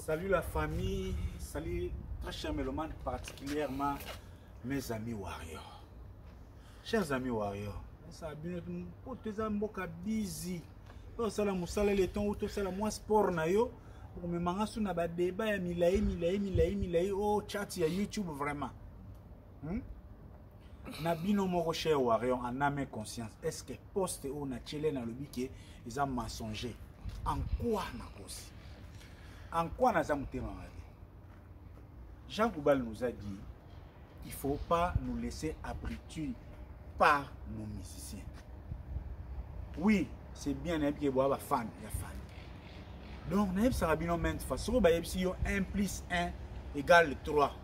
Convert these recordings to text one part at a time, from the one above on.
Salut la famille, salut très cher mélomane, particulièrement mes amis warriors. Chers amis warriors, ça bino pour tes mboka busy. To sala musala le temps ou to sala moi sport na yo. Pour me manga sous na ba débat ya milayi milayi milayi milayi oh chat ya YouTube vraiment. hmm? na bino moko cher warion en ame conscience est ce que poste oyo na tiele nalobi ke eza mensonger en quoi nakosi en quoi naza motema mabe jean goubal nous a dit il faut pas nous laisser abriter par nos musiciens oui c'est bien nayebi ke boya bafane ya fane donc nayebisaka bino mainte fois soki bayebisi yo 1 plus 1 égale 3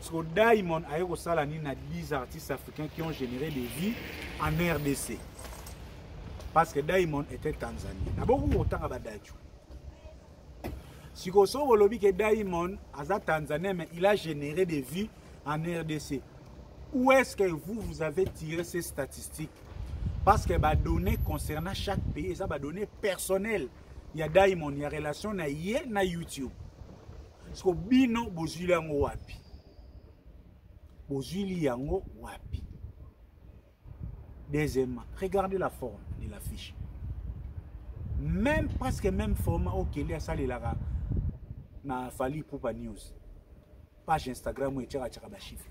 Siko Diamond aye kosala nini na 10 artistes africains qui ont généré des vies en RDC parce que Diamond était Tanzanie. Naboku kotanga ba Dacho. Siko so bolobi que Diamond aza Tanzanien mais il a généré des vies en RDC. Où est-ce que vous vous avez tiré ces statistiques Parce que ba données concernant chaque pays, ça ba données personnelles. Il y a Diamond, il y a relation na ye na YouTube. siko bino bozwili yango wapi bozwili yango wapi deuxièmement regardez la forme de l'affiche même presque même format oyo kende asalelaka na fali pupa news page instagram oyo etyaka tyaka bachiffre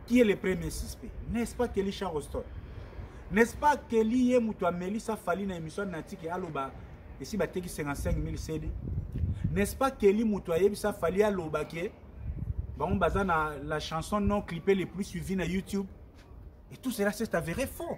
qui est le premier suspect n'est-ce pas kelly charoston n'est-ce pas kelly ye moto amelisa fali na émission na tiki aloba esi bateki 55 000 cd n'est-ce pas kelly moto ayebisa fali aloba ke bango baza na la chanson non clippé le plus suivi na youtube et tout cela c'est avéré faux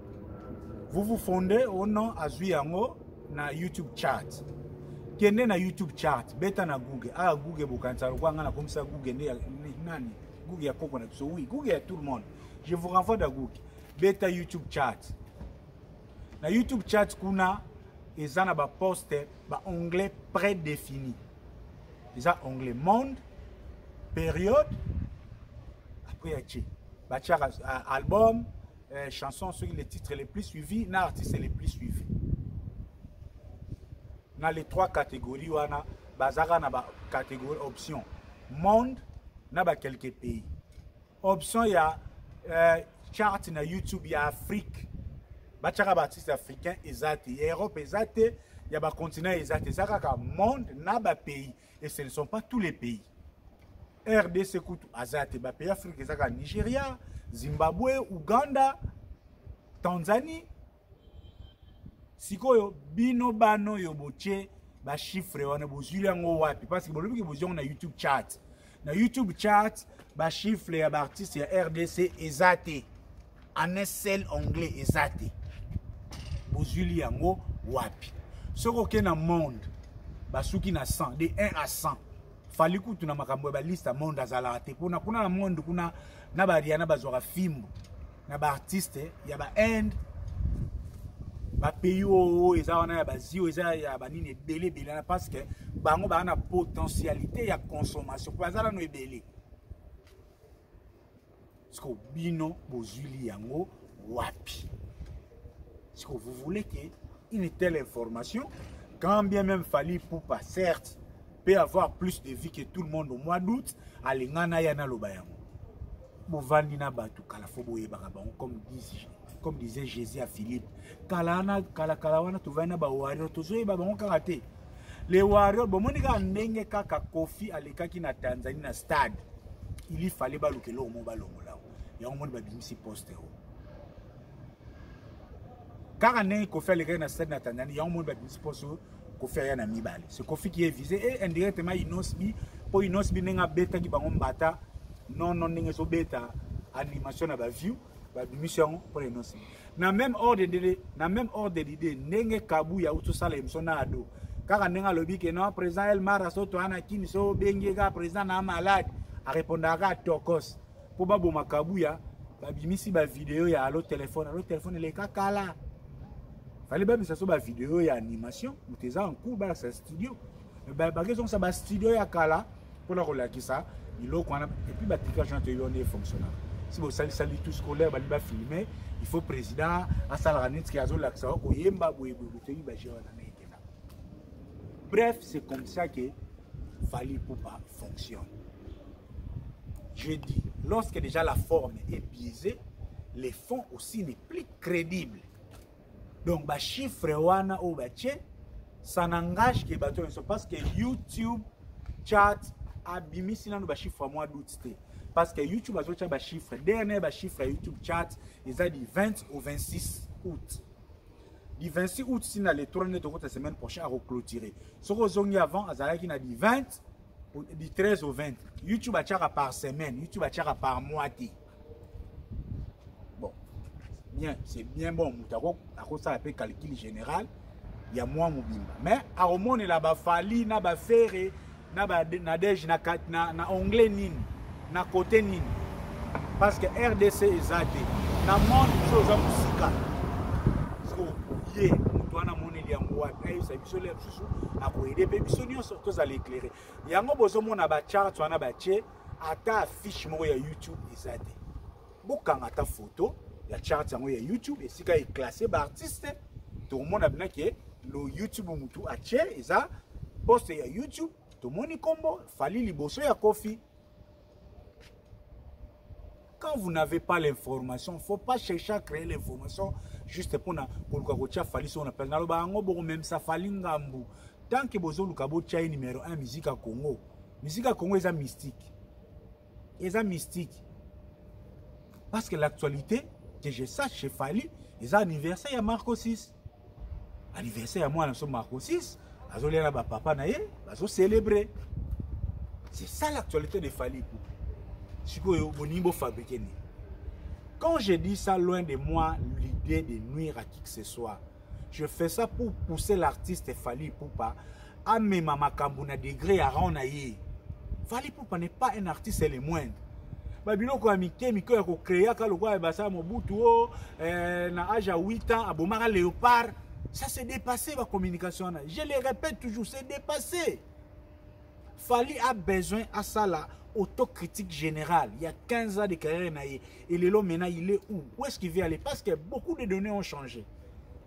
vous vous fondez au nom azui yango na youtube chat kende na youtube chat beta na google aya ah, google bokanisa lokola ngai nakomisa google nde nani google ya koko na biso oui google ya tout le monde je vous renvoie na google beta youtube chat na youtube chat kuna eza na baposte baonglet prédéfini eza onglet monde période après ya ce batiaka ah, album euh, chanson soki le titre le plus suivi na artiste le plus suivi na les trois catégories wana bazaka na bacatégorie option monde na bakelke pays option ya euh, chart na youtube ya afrique batyaka baartiste africain eza te ya europe eza te ya bacontinent eza te eza kaka monde na bapays et ce ne sont pas tous les pays rdc kutu aza te bapays afrique eza kaka nigeria zimbabwe uganda tanzanie sikoyo bino bana oyo botye bachiffre wana bozwili yango wapi parce que bolobi ke bozwi yango na youtube chat na youtube chat bachiffre ya baartiste ya rdc eza te en un seul anglais eza te bozwili yango wapi soki oke na monde basuki na 100 de 1 à 100 fali kutu na makambo ya baliste ya monde azalaka te mpona kuna na monde kuna na bariana bazwaka fimbo na baartiste ya bainde bapays oyo eza wana ya bazi oyo eza ya banini ebele ebele wana parce que bango baa na potentialité ya consommation mpo baza nano ebele siko bino bozwili yango wapi siko vous voulez que une telle information quand bien même fali poupa certes peut avoir plus de vie que tout le monde au mois d'août alingana ya naloba yango bovandi na bato kala fo boyebaka bango comme 10 comme disait jésus ya philippe kala wana kalakala wana tovandi na bawario tozoyeba bango kaka te le wario bomoni kaka ndenge kaka kofi alekaki na tanzanie na stade ili fale baluka eloko moko balongola yango moni babimisi poste o kaka ndenge kofi alekaki na stade na tanzanie yango moni babimisi poste o kofi aya na mibale se kofi ki evise e eh, indirectement inosbi mpo inosbi ndenge abetaki bango mbata nono ndenge ezobeta animation na baview babimisi yango mpo na inosi na même ordre de na même ordre d'idée ndenge kabu ya utosala emission na ado kaka ndenge alobi ke non président elmara so toa na kini so obengi kaka président na malade arépondaka kaka tokos mpo baboma kabuya babimisi bavideo ya alo telefone alo telefone eleka kala fale babimisa so bavideo ya animation moto eza en cours balakisa studio bakezongisa bastudio ya kala mpona kolakisa biloko wana epuis batricage wana toyebi wana efonctionnaka si bosalisa litu scolaire balingi bafilme il faut président asalaka neti ke azolakisa koyemba boyeboye botoyebi bagere wana na ekenda bref c'est comme ça que fali poupa fonctionne je dis lorsque déjà la forme est biaisée les fonds aussi n'est plus crédible donc bachiffre wana oyo batye ça n'engage ke bato nyonso parce que youtube chat abimisi nano bachiffre mwa doute te parce que youtube azotya bachiffre dernier bachiffre ya youtube chat eza du 20 au 26 août du 26 août si na le 3 nde tokota semaine prochaine akoclotire soki ozongi avant azalaki na du 20 du 13 au 20 youtube atyaka par semaine youtube atyaka par mois te bon bien c'est bien bon moto akosala mpe calcul général ya mwa mobimba mais akomonela bafali na bafere na banadege na, na, na anglais nini na kote nini parce que rdc eza te na monde biso oza mosika ye moto wana amoneli yango wapi ayebisa biso le mosusu akoyede mpe biso nyonso tozala eklere yango bozomona bacharts wana batie ata affiche moko ya youtube eza te bokanga ata foto ya charte yango ya youtube esika eklasse baartiste tokomona bina ke lo youtube motu atie eza poste ya youtube tomoni nkombo fali liboso ya kofi quand vous n'avez pas l'information faut pas chercher à créer l'information juste mpona koluka kotia fali soko na place naloba yango bokomemisa fali ngambu tant que bozoluka botia ye numero 1 musique ya congo musique ya congo eza mystique eza mystique parce que l'actualité que je sache chez fali eza anniversaire ya marco 6 anniversaire ya mwana so marco 6 azolia na bapapa na ye bazocelebre c'est ça l'actualité de fali ipupa sikoyo bolingi bofabrike nini quand je dis ça loin de moi l'idée de nuire à qui que ce soit je fais ça pour pousser l'artiste fali ipupa amema makambo na degre ya rang na ye fali pupa n'est pas un artiste le moindre babiloko ya mike mike ya kokreaka lokola basala mobutu o oh, eh, na age ya 8 ans abomaka léopard ça se dépassé bacommunication wana je le répète toujours se dépassé fali a besoin asala autocritique générale il y a 15 ans de carrière na ye et lelo maintenant il est où où est-ce qu'il veut aller parce que beaucoup de données ont changé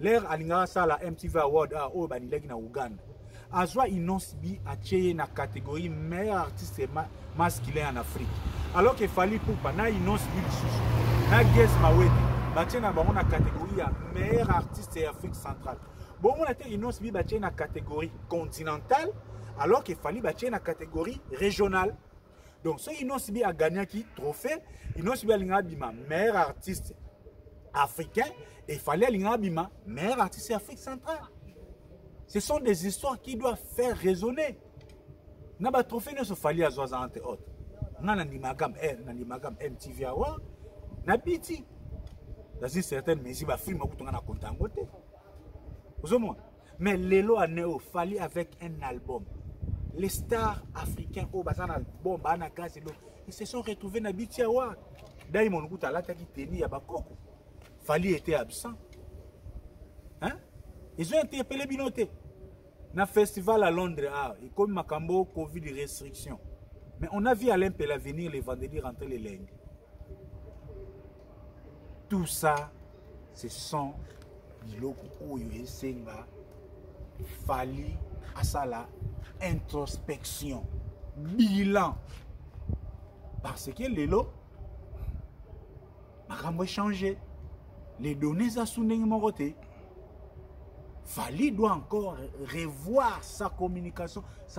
lere alingaka asala mtv award a ah, oyo banilaki na uganda azwa inonce bi atye ye na catégorie meilleur artiste ma, masculin en afrique alors que fali pupa na inonce bi lisusu na ges mawete batye na bango na catégorie ya meilleur artiste ya afrique centrale bomona te inonce bi batye na catégorie continentale alors que fali batye na catégorie régionale donc soki inosi bi agagnaki trophée inosi bi alingaka bima meilleur artiste africain et fallait alingaka bima meilleur artiste afrique centrale ce sont des histoires qui doivent faire raisonner na batrophée nyonso fali azwa aza entre autres nga na ndimagam eh, na ndimagam mtv awa na biti dans une certaine mesure bafilme akutu nga na konta yango te ozomona mais lelo aneo fali avec un album les stars africains oyo baza na album baa na gaz elo ils se sont retrouvés na biti awa diamond kuta alataki teni ya bakoko fali était absent hein? ezo interpele bino te na festival à londres awa ah, ekomi makambo covid restriction mais on a vu alain pela venir le vendredi rentrer le lundi tout ça ce sont biloko oyo esenga fali asala introspection bilan parce que lelo makambo echange les données eza su ndenge moko te fali doit encore revoir sa communication sa